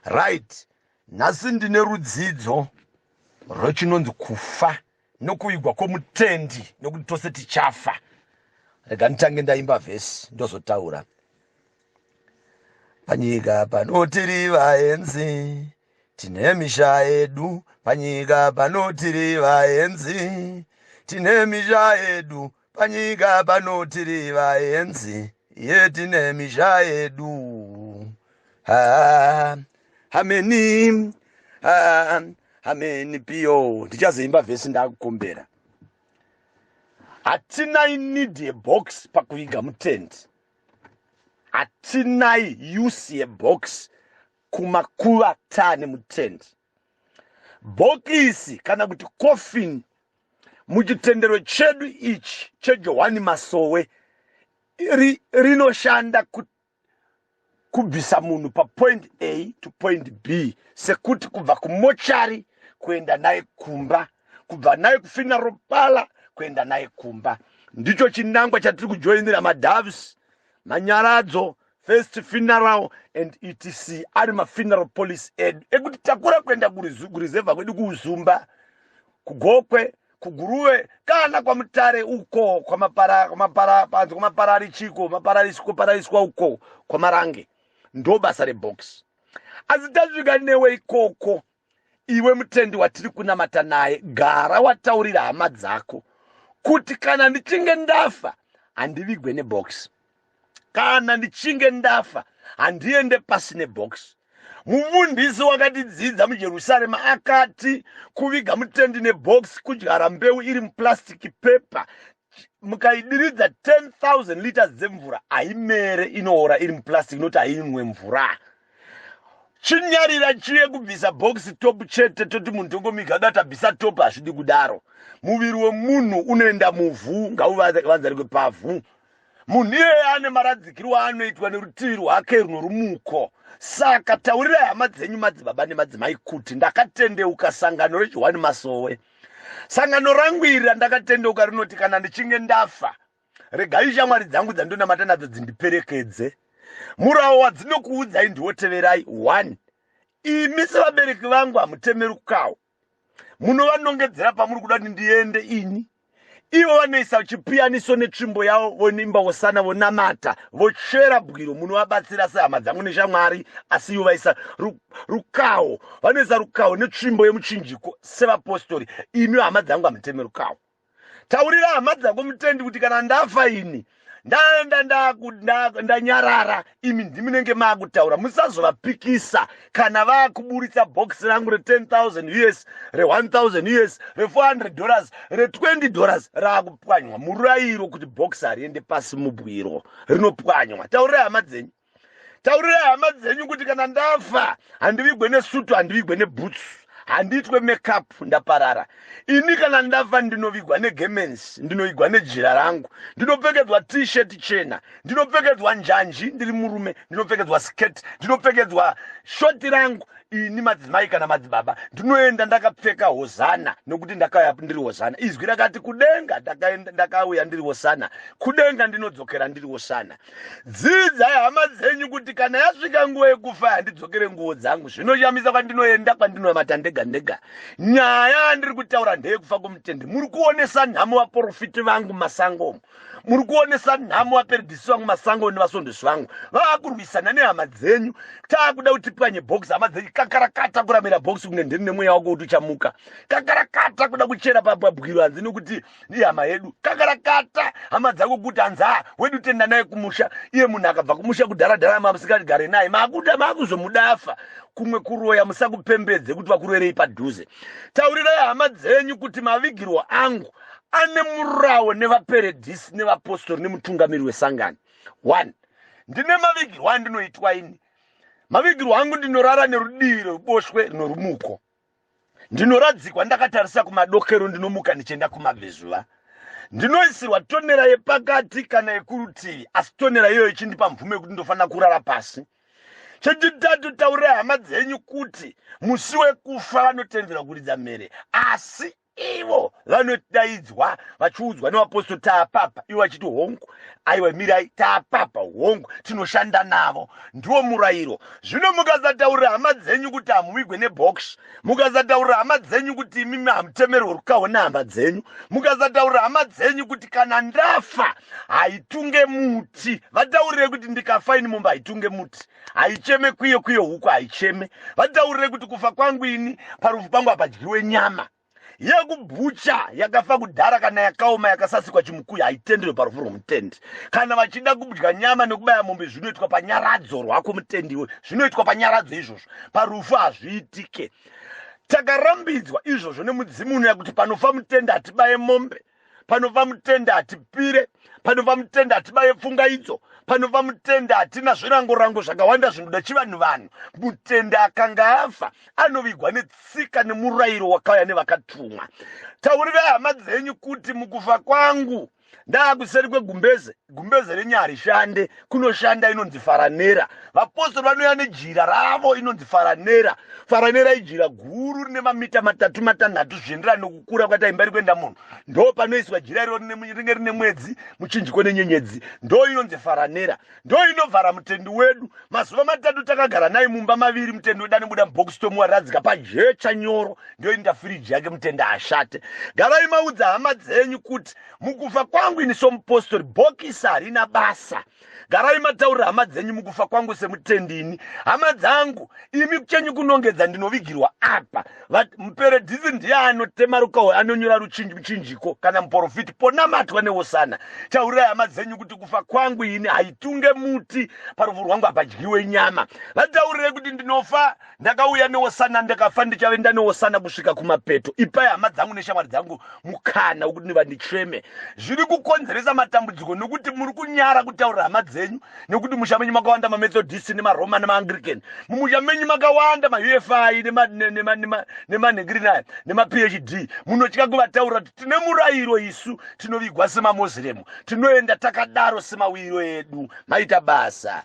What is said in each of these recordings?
right nhasi ndine rudzidzo rwechinonzi kufa nokuvigwa kwomutendi nokuti tose tichafa rega nditange ndaimba vhesi ndozotaura panyika pano tiri vaenzi tine misha yedu panyika pano tiri vaenzi tine misha yedu Panyika pano tiri vaenzi yetine misha yedu ah, hameni ah, hameni piyo ndichazoimba vhesi ndakukumbera hatinai need yebox pakuviga mutendi hatinai use yebox kumakuva tane mutendi bhokisi kana kuti coffin muchitendero chedu ichi chejohwani masowe ri, rinoshanda kut, kubvisa munhu papoint a to point b sekuti kubva kumochari kuenda naye kumba kubva naye kufina ropala kuenda naye kumba ndicho chinangwa chatiri kujoinira madavs manyaradzo first funeral and etc ari mafuneral policy edu ekuti takura kuenda kurizevha kwedu kuuzumba kugokwe kuguruve kana kwamutare uko kwamaparapanzi kwamapararichiko mapararisikoparariswa uko kwamarange ndobasa rebox asi tasvika newe ikoko iwe mutendi watiri kunamata naye gara wataurira hama dzako kuti kana ndichinge ndafa handivigwe nebox kana ndichinge ndafa handiende pasi nebox mufundisi wakatidzidza mujerusarema akati kuviga mutendi nebox kudyara mbeu iri muplastic paper mukaidiridza 10000 liters dzemvura haimere inoora iri muplastic inoti hainwe mvura chinyarira chiye kubvisa bhokisi top chete toti munhu tongomiga dati abvisa top hazvidi kudaro muviri wemunhu unoenda muvhu ngauvanzarikwe pavhu munhu iyeye ane maradzikiro aanoitwa nerutivi rwake runorumuko saka taurirai hama dzenyu madzibaba nemadzimai kuti ndakatendeuka sangano rejohwani masowe sangano rangu iri randakatendeuka rinoti kana ndichinge ndafa regai shamwari dzangu dzandonamata nadzo dzindiperekedze murawo wadzinokuudzai ndiwo teverai one imi sevabereki vangu hamutemerukawo munovanongedzera pamuri kuda kuti ndiende ini ivo vanoisa chipiyaniso netsvimbo yavo vonimba vosana vonamata vochera bwiro munovabatsira sehama dzangu neshamwari asi ivo vaisa rukawo vanoisa rukawo netsvimbo yemuchinjiko sevapostori imi hama dzangu hamutemerukawo taurira hama dzako mutendi kuti kana ndafa ini ndaenda ndanyarara imi ndimunenge maakutaura musazovapikisa kana vakuburitsa bhokisi rangu re10000 us re1000 us re400 dollars re20 dollars raakupwanywa murairo kuti bhokisi hariende pasi mubwiro rinopwanywa taurirai hama dzenyu taurirai hama dzenyu kuti kana ndafa handivigwe nesutu handivigwe nebhutsu handiitwe makeup ndaparara ini kana ndafa ndinovigwa negemens ndinoigwa nejira rangu ndinopfekedzwa t-shirt chena ndinopfekedzwa njanji ndiri murume ndinopfekedzwa skirt ndinopfekedzwa shoti rangu ini madzimai kana madzibaba ndinoenda ndakapfeka hozana nokuti ndakauya ndiri hozana izwi rakati kudenga ndakauya ndiri hosana kudenga ndinodzokera ndiri hosana dzidzai hama dzenyu kuti kana yasvika nguva yekufa handidzokere nguvo dzangu zvinoshamisa kwandinoenda kwandinonamata ndega ndega nyaya yandiri kutaura ndeyekufa kwomutende muri kuonesa nhamo vaprofiti vangu masango omo muri kuonesa nhamo vaperedhisi vangu masango nevasondesi vangu vava kurwisana nehama dzenyu taakuda kuti pwanye bhokisi hama dzenyu kakarakata kuramira bhokisi kunge ndiri nemweya wako kuti uchamuka kakarakata kuda kuchera pabwabwiro hanzi nekuti ihama yedu kakarakata hama dzako kuti hanzaa wedu tenda naye kumusha iye munhu akabva kumusha kudharadhara mamusingatigare naye makuda makuzomudafa kumwe kuroya musakupembedze kuti vakurerei padhuze taurirai hama dzenyu kuti mavigirwo angu ane murawo nevaperedhisi nevapostori nemutungamiri wesangano one ndine mavigirwo andinoitwa ini mavigirwo angu ndinorara nerudivi rweruboshwe rinorumuko ndinoradzikwa ndakatarisa kumadokero ndinomuka ndichienda kumabvezuva ndinoisirwa tonera yepakati kana yekurutivi asi tonera iyoyo ichindipa mvumo yekuti ndofanira kurara pasi chechitatu taurai hama dzenyu kuti musi wekufa vanotendera kuridza mhere asi ivo vanodaidzwa vachiudzwa nevapostori taapapa ivo vachiti hongu aiwa mirai taapapa hongu tinoshanda navo ndiwo murayiro zvino mukasataurira hama dzenyu kuti hamuvigwe nebox mukasataurira hama dzenyu kuti imimi hamutemerwe rukaho nehama dzenyu mukasataurira hama dzenyu kuti kana ndafa haitunge muti vataurirei kuti ndikafa ini mumba haitunge muti haicheme kwiyo kwiyo huku haicheme vataurire kuti kufa kwangu ini parufu pangu hapadyiwe nyama yekubhucha yakafa kudhara kana yakaoma yakasasikwa chimukuyu haitendewe parufu rwomutendi kana vachida kudya nyama nekubaya mombe zvinoitwa panyaradzo rwako mutendi iwe zvinoitwa panyaradzo izvozvo parufu hazviitike takarambidzwa izvozvo nemudzimu unoya kuti panofa mutendi hatibaye mombe panova mutende hatipire panova mutende hatibaye pfunga idzo panova mutende hatina zvirangorango zvakawanda zvinoda chivanhu vanhu mutende akanga afa anovigwa netsika nemurayiro wakauya nevakatumwa taurirai hama dzenyu kuti mukufa kwangu ndaakuseri kwegumbeze gumbeze renyu harishande kunoshanda inonzi faranera vapostori vanouya nejira ravo inonzi faranera faranera ijira guru rine mamita matatu matanhatu zvienderana nokukura kwati imba iri kuenda munhu ndo panoiswa jira iro rinenge rine mwedzi muchinjiko nenyenyedzi ndo inonzi faranera ndo inovhara mutendi wedu mazuva matatu takagara naye mumba maviri mutendi wedu anobuda mubox tomuwaradzika pajecha nyoro ndo inoita firiji yake mutendi ashate garai maudza hama dzenyu kuti mukufa kwangu ini somupostori bhokisi harina basa garai mataurira hama dzenyu mukufa kwangu semutendi ini hama dzangu imi kuchenyu kunongedza ndinovigirwa apa muperedhisi ndiye anotema rukaho anonyora ruchinjiko kana muporofiti ponamatwa newosana taurirai hama dzenyu kuti kufa kwangu ini haitunge muti parufu rwangu hapadyiwe nyama vataurirei kuti ndinofa ndakauya neosana ndakafa ndichave ndaneosana kusvika kumapeto ipai hama dzangu neshamwari dzangu mukana wekuti ndiva ndicheme zviri kukonzeresa matambudziko nokuti muri kunyara kutaurira hama dzenyu nekuti musha menyu makawanda mamethodist nemaroma nemaangrican mumusha menyu makawanda maufi nemanhengirina aya nemaphd munotya kuvataurira kuti tine murayiro isu tinovigwa semamoslemu tinoenda takadaro semauyiro edu maita basa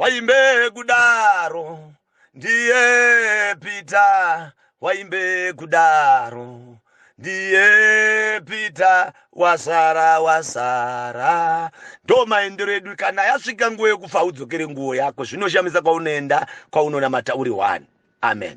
waimbe kudaro ndiye pita waimbe kudaro ndiye pita wasara wasara ndo maendero edu kana yasvika nguva yekufa udzokere nguvo yako zvinoshamisa kwaunoenda kwaunonamata uri one amen